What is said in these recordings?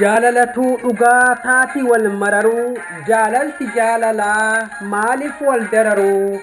Jaalalatuu dhugaa taati wal mararuu jaalalti jaalalaa maaliif wal dararuu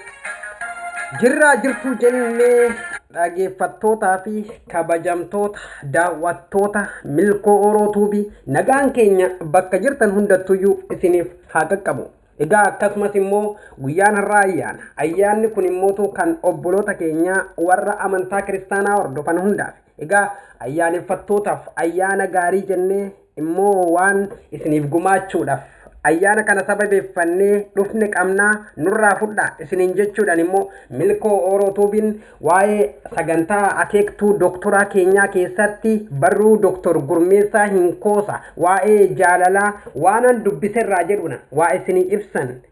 jirraa jirtuu jennee dhageeffattootaa fi kabajamtoota daawwattoota milkoo oroo tuubii nagaan keenya bakka jirtan hundattuyyuu isiniif haa qaqqabu. Egaa akkasumas immoo guyyaan har'aa ayyaana. Ayyaanni kun immoo kan obboloota keenyaa warra amantaa kiristaanaa hordofan hundaaf. Egaa ayyaaneffattootaaf ayyaana gaarii jennee immoo waan isiniif gumaachuudhaaf ayyaana kana sababeeffannee dhufne qabna nurraa fudhaa isiniin jechuudhaan immoo Milkoo Ooroo Tuubiin waa'ee sagantaa akeektuu doktoraa keenyaa keessatti barruu Doktor Gurmeessaa Hinkoosa waa'ee jaalalaa waanan dubbiserraa jedhuudhaan waa isinii ibsan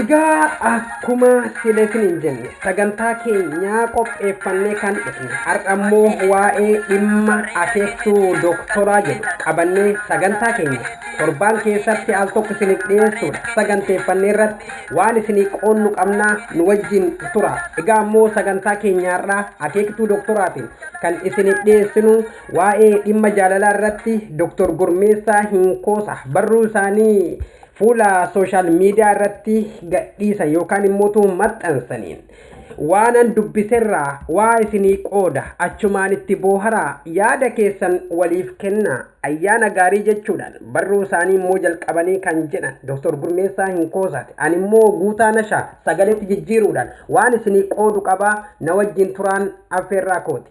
Egaa akkuma sila isiniin jenne sagantaa keenyaa qopheeffannee kan dhufne har'a immoo waa'ee dhimma akeektuu dooktoraa jedhu qabannee sagantaa keenya torbaan keessatti al tokko isiniif dhiyeessuudha saganteeffannee irratti waan isinii qoonnu qabnaa nu wajjiin tura egaa ammoo sagantaa keenyaarraa akeektuu doktoraatiin kan isiniif dhiyeessinu waa'ee dhimma jaalalaa irratti doktor Gurmeessaa Hinkoosa barruu isaanii fuula sooshaal miidiyaa irratti gadhiisan yookaan immoo maxxansaniin Waanan dubbiserraa waa isinii qooda achumaan itti booharaa yaada keessan waliif kennaa ayyaana gaarii jechuudhaan barruu isaanii immoo jalqabanii kan jedhan Dr. Gurmeessaa Hinkoosaati. Ani immoo Guutaa Nashaa sagaleetti jijjiiruudhaan waan isinii qoodu qabaa na wajjin turaan affeerraa kooti.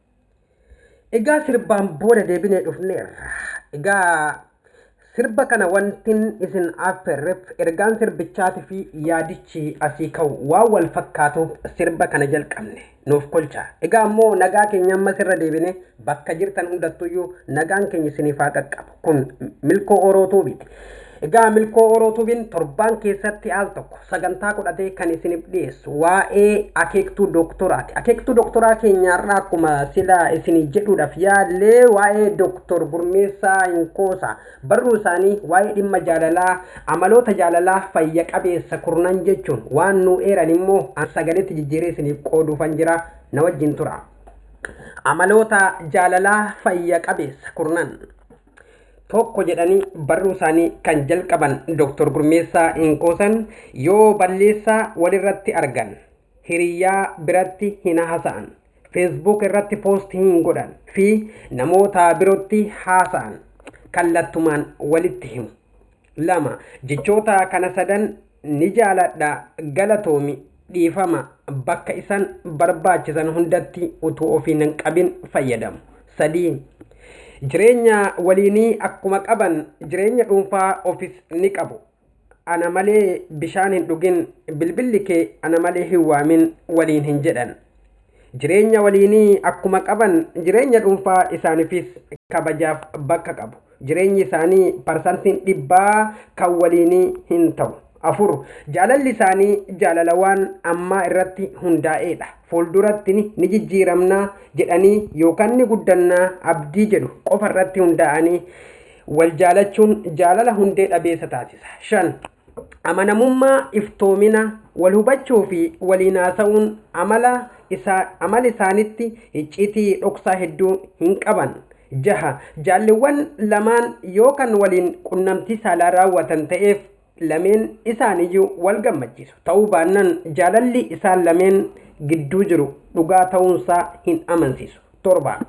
Egaa sirbaan booda deebinee dhufneerra. Egaa sirba kana wantin isin affeerreef ergaan sirbichaatii fi yaadichi asii ka'u waan wal fakkaatuuf sirba kana jalqabne nuuf kolcha. Egaa immoo nagaa keenya ammas irra deebine bakka jirtan hundattuyyuu nagaan keenya isiniif haa qaqqabu. Kun milkoo oroo tuubiiti. Egaa milkoo oroo tuubiin torbaan keessatti al tokko sagantaa godhatee kan isiniif dhiyeessu waa'ee akeektuu dooktoraati. Akeektuu dooktoraa keenyaarraa akkuma sila isinii jedhuudhaaf yaallee waa'ee dooktor Gurmeessaa Inkoosaa barruu isaanii waa'ee dhimma jaalalaa amaloota jaalalaa fayya qabeessa kurnan jechuun waan nuu eeran immoo an sagaleetti jijjiiree isiniif qooduufan jira na wajjin tura. Amaloota jaalalaa fayya qabeessa kurnan tokko jedhanii barruu isaanii kan jalqaban Dr. Gurmeessaa Hinkoosan yoo balleessaa walirratti argan hiriyyaa biratti hin haasa'an, feesbuuk irratti poost hin godhan fi namoota birootti haasa'an kallattumaan walitti himu. lama jechoota kana sadan ni jaaladha galatoomi dhiifama bakka isan barbaachisan hundatti utuu ofiin hin qabin fayyadamu sadii jireenya waliinii akkuma qaban jireenya dhuunfaa ofis ni qabu ana malee bishaan hin dhugin bilbilli kee ana malee hin waamin waliin hin jedhan Jireenya waliinii akkuma qaban jireenya dhuunfaa isaaniifis kabajaaf bakka qabu. Jireenyi isaanii parsantiin dhibbaa kan waliinii hin ta'u. 4, Jaalalli isaanii jaalala waan ammaa irratti hundaa'eedha. Fuulduratti ni jijjiiramna jedhanii yookaan ni guddanna abdii jedhu qofa irratti hundaa'anii wal jaalachuun jaalala hundee dhabeessa taasisa. 5, amanamummaa, iftoomina, wal hubachuu fi waliin haasa'uun amala isaa amala isaanitti icciitii dhoksaa hedduu hin qaban. jaha Jaalliwwan lamaan yoo kan waliin qunnamtii saalaa raawwatan ta'eef lameen isaaniyyuu wal gammachiisu. Ta'uu baannan jaalalli isaan lameen gidduu jiru dhugaa ta'uunsaa hin amansiisu. torba.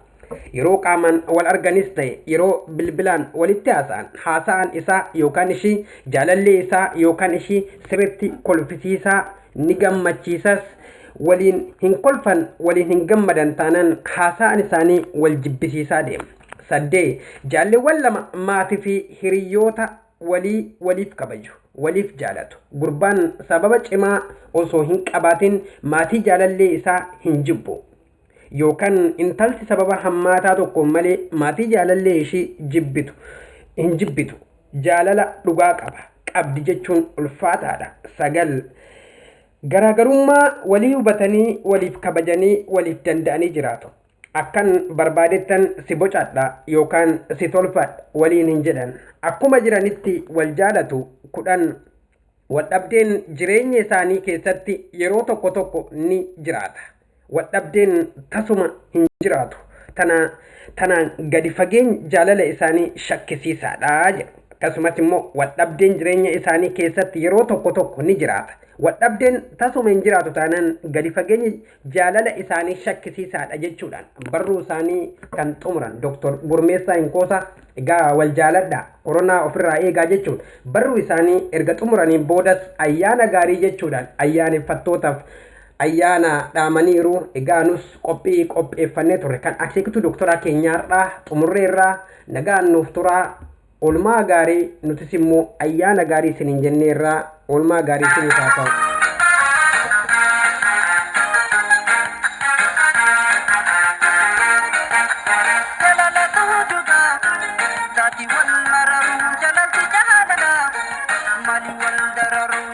Yeroo qaamaan wal arganis ta'e yeroo bilbilaan walitti haasa'an haasa'aan isaa yookaan ishii jaalallee isaa yookaan ishii sirriitti kolfisiisaa ni gammachiisas waliin hin kolfan waliin hin gammadan taanaan haasa'aan isaanii wal jibbisiisaa deema. Saddee jaalleewwan lama maatii fi hiriyoota walii waliif kabaju waliif jaalatu gurbaan sababa cimaa osoo hin qabaatin maatii jaalallee isaa hin jibbu yookaan intalti sababa hammaataa tokkoon malee maatii jaalallee ishii jibbitu hin jibbitu jaalala dhugaa qaba qabdi jechuun ulfaataadha sagal garaagarummaa walii hubatanii waliif kabajanii waliif danda'anii jiraatu akkan barbaadettan si bocadha yookaan si tolfadha waliin hin jedhan akkuma jiranitti wal jaalatu kudhan wal dhabdeen jireenya isaanii keessatti yeroo tokko tokko ni jiraata. Wadhabdeen tasuma hin jiraatu. Tana, tanaan gadi fageeny jaalala isaanii shakkisiisaadha jedhu. Akkasumas immoo wadhabdeen jireenya isaanii keessatti yeroo tokko tokko ni jiraata. Wadhabdeen tasuma hin jiraatu taanaan gadi fageenyi jaalala isaanii shakkisiisaadha jechuudhaan barruu isaanii kan xumuran Dr. Gurmeessaa Hinkoosaa egaa wal jaaladhaa koronaa ofirraa eegaa jechuun barruu isaanii erga xumuraniin boodas ayyaana gaarii jechuudhaan ayyaaneffattootaaf ayyaana dhaamaniiru. Egaa nus qophii qopheeffannee turre kan akeekituu doktoraa keenyaarraa xumurreerraa nagaan nuuf turaa olmaa gaarii nutis immoo ayyaana gaarii isiniin jenneerraa olmaa gaarii isiniif haa ta'u. Mali wal dararu